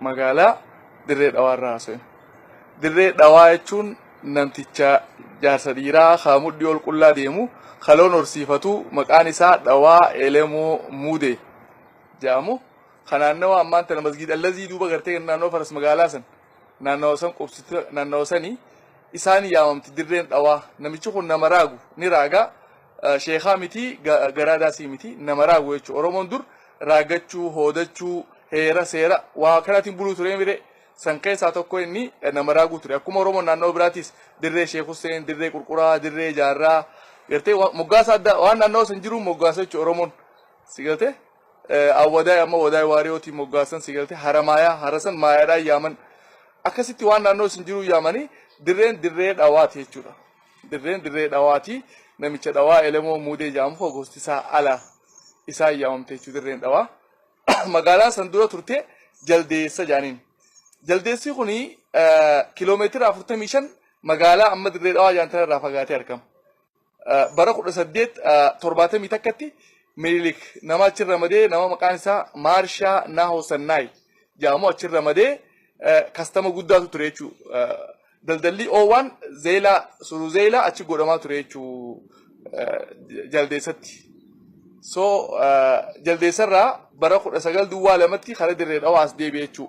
magaalaa dirree dhawaa irraa haasa'e. Dirree dhawaa jechuun namticha jaarsa dhiiraa haa mudhii ol qullaa deemu kaloon horsiifatu maqaan isaa dhawaa elemoo muude jedhamu. Kan naannawa ammaan tana masgiid allazii duuba gartee naannoo faras magaalaa san naannawa san qubsite naannawa sani isaan yaamamti dirreen dhawaa namichi kun nama raagu ni raaga sheekaa miti garaa daasii miti nama raagu jechu oromoon dur raagachuu hoodachuu heera seera waa kanaatiin buluu ture mire san keessaa tokko inni nama raaguu ture akkuma oromoon naannawa biraatiis dirree sheek Hussein dirree qurquraa dirree jaarraa gartee moggaasa addaa waan naannawa san jiruun moggaasa jechu oromoon si galtee Awwadaay amma Wadaay Waariyootiin moggaasan si galte Haramaayaa Harasan Maayaadhaan yaaman akkasitti waan naannoo isin jiruu yaamanii dirreen dirree dhawaati jechuudha. Dirreen dirree dhawaati namicha dhawaa elemoo muudee jaamu koo gosti isaa ala isaan yaamamte jechuudha dirreen dhawaa. Magaalaan san dura turte jaldeessa jaaniin. Jaldeessi kun kiloomeetira 45 magaalaa amma dirree dhawaa jaantan irraa fagaatee argama. Bara 1871tti Minilik nama achi ramadee nama maqaan isaa Maarshaa Naahoo Sannaay jedhamu achi ramadee kastama guddaatu ture jechuu daldalli oowwaan zeelaa suru zeelaa achi godhamaa ture jechuu jaldeessatti. So jaldeessarraa bara 19 duwwaa lamatti kara dirree dhawaa as deebi'e jechuu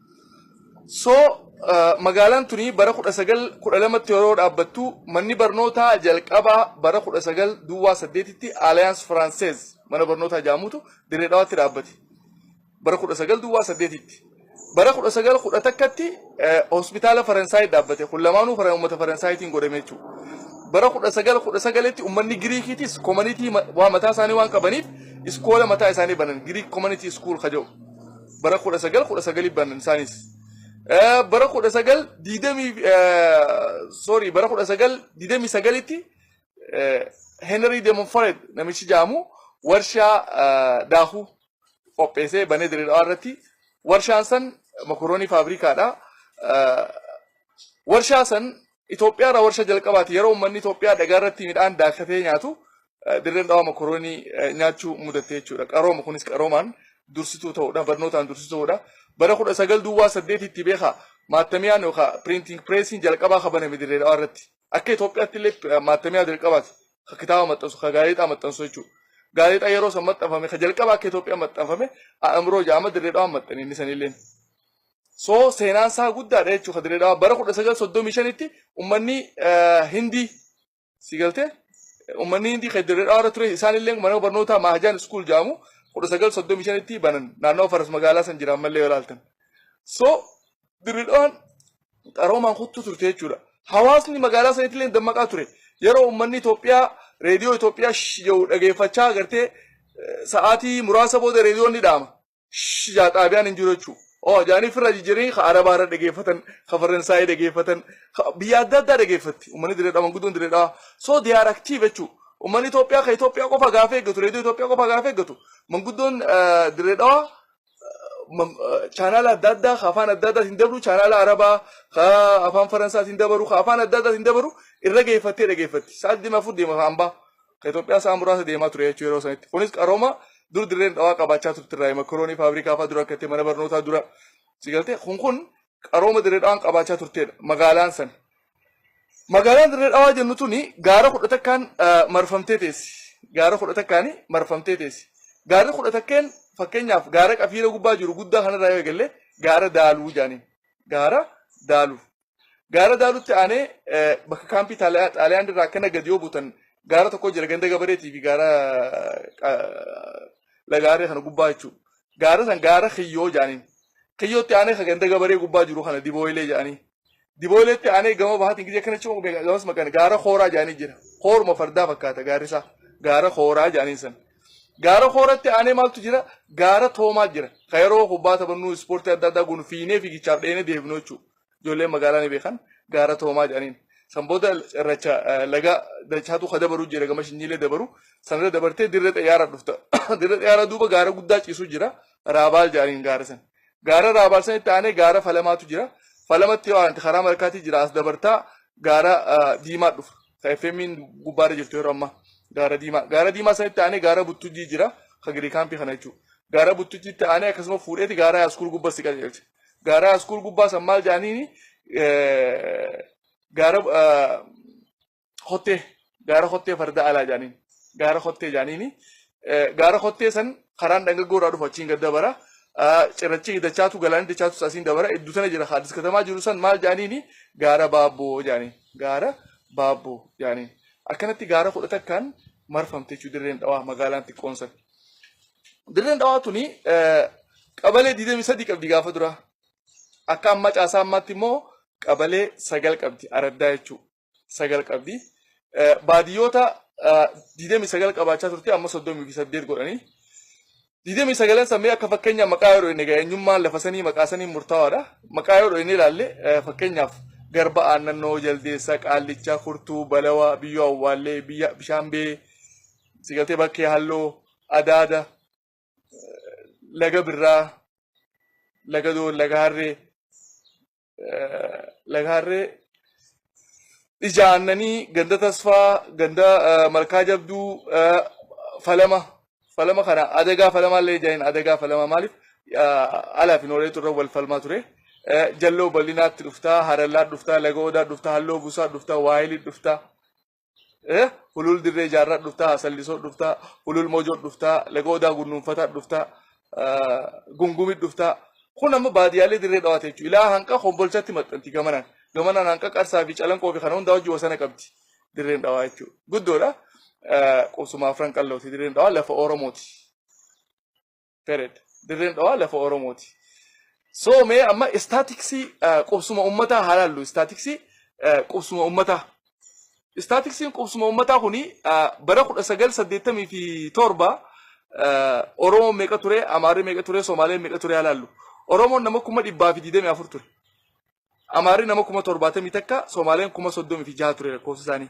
So magaalaan tuni bara 1912tti yeroo dhaabbattu manni barnootaa jalqabaa bara 19 duwwaa 8tti Alliance Française mana barnootaa jaamutu dirree dhawaatti dhaabbate. Bara 19 duwwaa 8tti. Bara 1911tti hospitaala Faransaay dhaabbate. Kun lamaanuu fara uummata Faransaayitiin godhame jechuudha. Bara 1919tti uummanni Giriikiitis koomanitii waa mataa isaanii waan qabaniif iskoola mataa isaanii banan Giriik koomanitii iskuul kaja'u. bara 19 19 banan isaanis Eh, bara 19 digdamii eh, sorry bara 19 digdamii sagalitti eh, Henry Demonfred namichi jaamu warshaa eh, daakuu qopheessee banee diriiraa irratti warshaan san mokoroonii faabrikaadha. Eh, warshaa san Itoophiyaa irraa warshaa jalqabaati yeroo uummanni Itoophiyaa dhagaa irratti midhaan daakatee nyaatu dirreen dhawaa mokoroonii nyaachuu mudatte jechuudha. Qarooma kunis qaroomaan dursituu ta'uudha barnootaan dursituu ta'uudha. Bara kudha sagal duwwaa saddeetitti beekaa maattamiyaan yookaan piriintiing pireesiin jalqabaa kabaname dirree dhawaa irratti. Akka Itoophiyaatti illee maattamiyaa jalqabaati ka kitaaba maxxansu ka gaazexaa maxxansu jechuudha. Gaazexaa yeroo san maxxanfame ka jalqabaa akka Itoophiyaa maxxanfame A'amroo ja'ama dirree dhawaan maxxane inni sanilleen. So seenaan isaa guddaadha jechuudha Dirree Dhawaa. Bara 1935tti uummanni eh, Hindii si galtee uummanni Hindii kan Dirree Dhawaa irra ture isaan illee mana barnootaa Maahajaan Iskuul jedhamu 1935tti banan naannoo Faras magaalaa san jira ammallee yoo ilaaltan. So Dirree Dhawaan qaroomaan kuttuu turte jechuudha. Hawaasni magaalaa sanitti illee dammaqaa ture. Yeroo uummanni Itoophiyaa reediyoo Itoophiyaa sh- jedhu dhageeffachaa agartee eh, sa'aatii muraasa booda reediyoon ni dhaama. Sh jaa xaabiyaan hin jiru jechuu. Oo jaanii firra jijjiirin ka arabaa irra dhageeffatan ka faransaayii dhageeffatan ka biyya adda addaa dhageeffatti uummanni direedhaa manguddoon direedhaa so they are active jechuu. Uummanni Itoophiyaa ka Itoophiyaa qofa gaafee eeggatu reediyoo Itoophiyaa qofa gaafee eeggatu manguddoon direedhaa chaanaala adda addaa ka afaan adda addaatiin dabru chaanaala arabaa ka afaan faransaatiin dabaru ka afaan adda addaatiin dabaru irra geeffattee dhageeffatti sa'aatii deema afur deema ka hambaa. ka Itoophiyaa sa'a muraasa deemaa ture jechuu yeroo sanitti. Kunis qarooma dur dirreen dhawaa qabaachaa turte irraa makroonii faabrikaa fa'aa dura akka itti mana barnootaa dura si galtee kun kun qarooma dirree dhawaan qabaachaa turtedha magaalaan san. Magaalaan dirree dhawaa jennu tuni gaara kudha takkaan eh, marfamtee teessi. Gaara kudha takkaan marfamtee teessi. Gaarri kudha takkeen fakkeenyaaf gaara qafiira gubbaa jiru guddaa kanarraa yoo eegalle gaara daaluu jaaniin. Gaara daaluu. Gaara Daalutti aanee bakka kaampii Xaaliyaan irraa akkana gadi yoo buutan gaara tokko jira ganda gabareetii fi gaara lagaaree kana gubbaa jechuudha. Gaara san gaara kiyyoo jedhaniin. Kiyyootti aanee kan ganda gabaree gubbaa jiru kana dibooyilee jedhanii. Dibooyileetti aanee gama bahaatiin gidee kana cimuu gamas maqaan gaara kooraa jedhanii jira. Kooruma fardaa fakkaata gaarri isaa. Gaara kooraa jedhaniin san. Gaara kooratti aanee maaltu jira? Gaara toomaa jira. Kan yeroo kubbaa taphannuu ispoortii adda addaa goonu fiinee fiigichaaf dheenee deebinu jechuudha. ijoolleen magaalaa ni beekan gaara toomaa jedhaniin. San booda irracha laga dachaatu ka dabaru jira gama shinyiilee dabaru sanirra dabartee dirree xayyaara dhufta. Dirree xayyaara duuba gaara guddaa ciisu jira raabaal jedhaniin gaara san. Gaara raabaal sanitti aanee gaara falamaatu jira. Falamatti waan karaa malkaatii jira as dabartaa gaara diimaa dhufa. ka FMIn gubbaarra jirtu yeroo ammaa gaara diimaa. Gaara diimaa sanitti aanee gaara buttujjii jira ka girii kaampii kana jechuudha. Gaara buttujjiitti aanee akkasuma fuudheeti gaara haaskuul gubbaa si qajeelcha. Gaara haaskuul gubbaa san maal jedhaniini gaara kottee gaara kottee farda alaa jedhaniin gaara kottee jedhaniini gaara kottee san karaan dhangaggoo irraa dhufu achiin gad dabara. Cirrachi dachaatu galaanii dachaatu asiin dabara iddoo sana jira haadis katamaa jiru san maal jedhaniini gaara baabboo jedhaniin. gaara baabboo yaani akkanatti gaara kudha takkaan marfamte jechuu dirreen dhawaa magaalaan xiqqoon san dirreen dhawaa tuni eh, qabalee 23 qabdi gaafa duraa akka amma caasaa ammaatti immoo qabalee sagal qabdi araddaa jechuu sagal qabdi Eh, baadiyyoota eh, 29 qabaachaa turte amma 38 godhanii 29 san mee akka fakkeenyaa maqaa yoo dhoyne egaa eenyummaan lafa sanii maqaa sanii murtaawaadha. Maqaa yoo dhoyne ilaalle eh, fakkeenyaaf garba aannannoo, jaldeessa, qaallichaa, kurtuu, balawaa, biyyoo awwaallee, biyya bishaan bee, sigaltee bakkee halloo, adaada, laga birraa, laga doon, laga harree, laga harree ija aannanii ganda tasfaa ganda eh, malkaa jabduu eh, falama falama kana adagaa falamaa illee ija hin adagaa falamaa maaliif eh, alaa fi nooreetu irra wal falmaa ture Eh, jalloo bal'inaatti dhuftaa harallaa dhuftaa laga odaa dhuftaa halloo busaa dhuftaa waayilii dhuftaa Eh, hulul dirree jaarraa dhuftaa, sallisoo dhuftaa, hulul mojoo dhuftaa, laga odaa gunnuunfataa dhuftaa, ah, gungumit dhuftaa. Kun amma baadiyaalee dirree dhawaate jechuudha. Ilaa hanqa kombolchatti maxxanti gamanaan. Gamanaan hanqa qarsaa fi calanqoo fi kana hundaa wajjin wasana qabdi. Dirreen dhawaa jechuudha. Guddoodha. Ah, Qubsuma afran qallooti dirreen dhawaa lafa Oromooti. Period. Dirreen dhawaa lafa Oromooti. So mee amma istaatiksii qubsuma ummataa haa laallu. Istaatiksii qubsuma ummataa. Istaatiksiin qubsuma ummataa kuni bara 1987 Oromoo meeqa ture, Amaarri meeqa ture, Somaaleen meeqa ture haa laallu. Oromoon nama kuma dhibbaa fi digdamii afur ture. Amaarri nama kuma torbaatamii takka, Somaaleen kuma soddomii fi jaha ture lakkoofsi isaanii.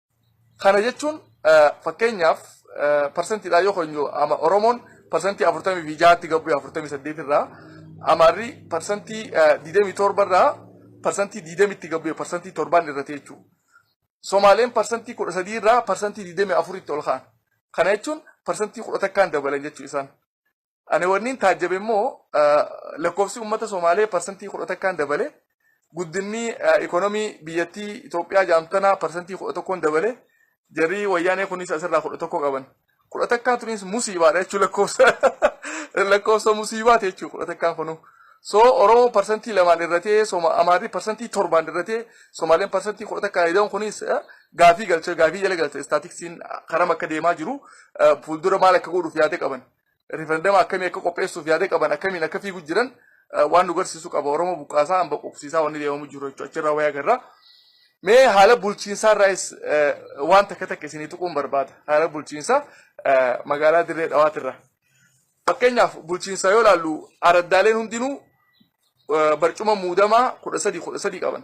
Kana jechuun fakkeenyaaf parsentiidhaan yoo keenyu ama Oromoon parsentii afurtamii fi jaatti gabbu'e afurtamii saddeet irraa Amaarri parsentii digdamii torba irraa parsentii digdamitti gabbu'e parsentii torbaan irratti jechuudha. Somaaleen parsentii kudha sadii irraa parsentii digdamii afuritti ol ka'an. Kana jechuun parsentii kudha takkaan dabalan jechuu isaan. Ani wanniin taajjabe immoo lakkoofsi uummata Somaalee parsantii kudha takkaan dabale guddinni ikoonomii biyyattii Itoophiyaa jedhamtu tanaa parsantii kudha tokkoon dabale jarri wayyaanee kunis asirraa kudha tokko qaban. Kudha takkaan tunis musiibaadha jechuun lakkoofsa lakkoofsa musiibaati jechuun kudha takkaan kunuu. So Oromoo parsantii lamaan irratee Amaarri parsantii torbaan irratee Somaaleen parsantii kudha takkaan ida'uun kunis gaafii galcha gaafii jala galcha istaatiksiin karam akka deemaa jiru fuuldura maal akka godhuuf yaada qaban. riferendama akkamii akka qopheessuuf yaada qaban akkamiin akka fiigu jiran eh, waan nu garsiisu qaba oromoo buqqaasaa hamba quqsiisaa wanni deemamu jiru jechuudha achirraa wayii agarra mee haala bulchiinsaa irraas eh, waan takka takka isinii tuquun barbaada haala bulchiinsaa eh, magaalaa dirree dhawaatirra fakkeenyaaf bulchiinsaa yoo ilaallu araddaaleen hundinuu eh, barcuma muudamaa kudha sadii kudha sadii qaban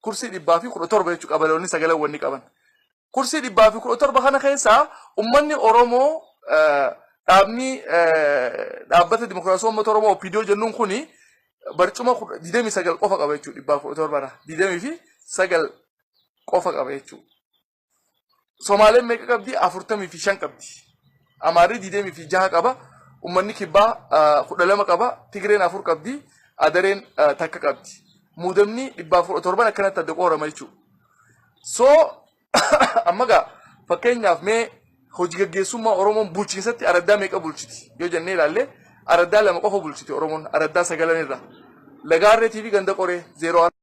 Kursii dhibbaa fi kudha torba jechuudha qabaloonni sagalan wanni qaban. Kursii dhibbaa fi kudha torba kana keessaa ummanni Oromoo dhaabni dhaabbata dimokiraasii uummata Oromoo OPDO jennuun kuni barcuma 29 qofa qaba jechuudha dhibbaa fi kudha torba irraa 29 qofa qaba jechuudha. Somaaleen meeqa qabdi? Afurtamii fi shan qabdi. Amaarri diidemii fi jaha qaba. Ummanni kibbaa kudha lama qaba. Tigreen afur qabdi. Adareen takka qabdi. Muudamni dhibbaaf kudha torban akkanatti adda qoorama jechuudha. So amma gaa fakkeenyaaf mee hojii gaggeessummaa Oromoon bulchiinsatti araddaa meeqa bulchiti yoo jennee ilaalle araddaa lama qofa bulchiti Oromoon araddaa sagalan irraa. Lagaarreetii fi ganda qoree zeeroo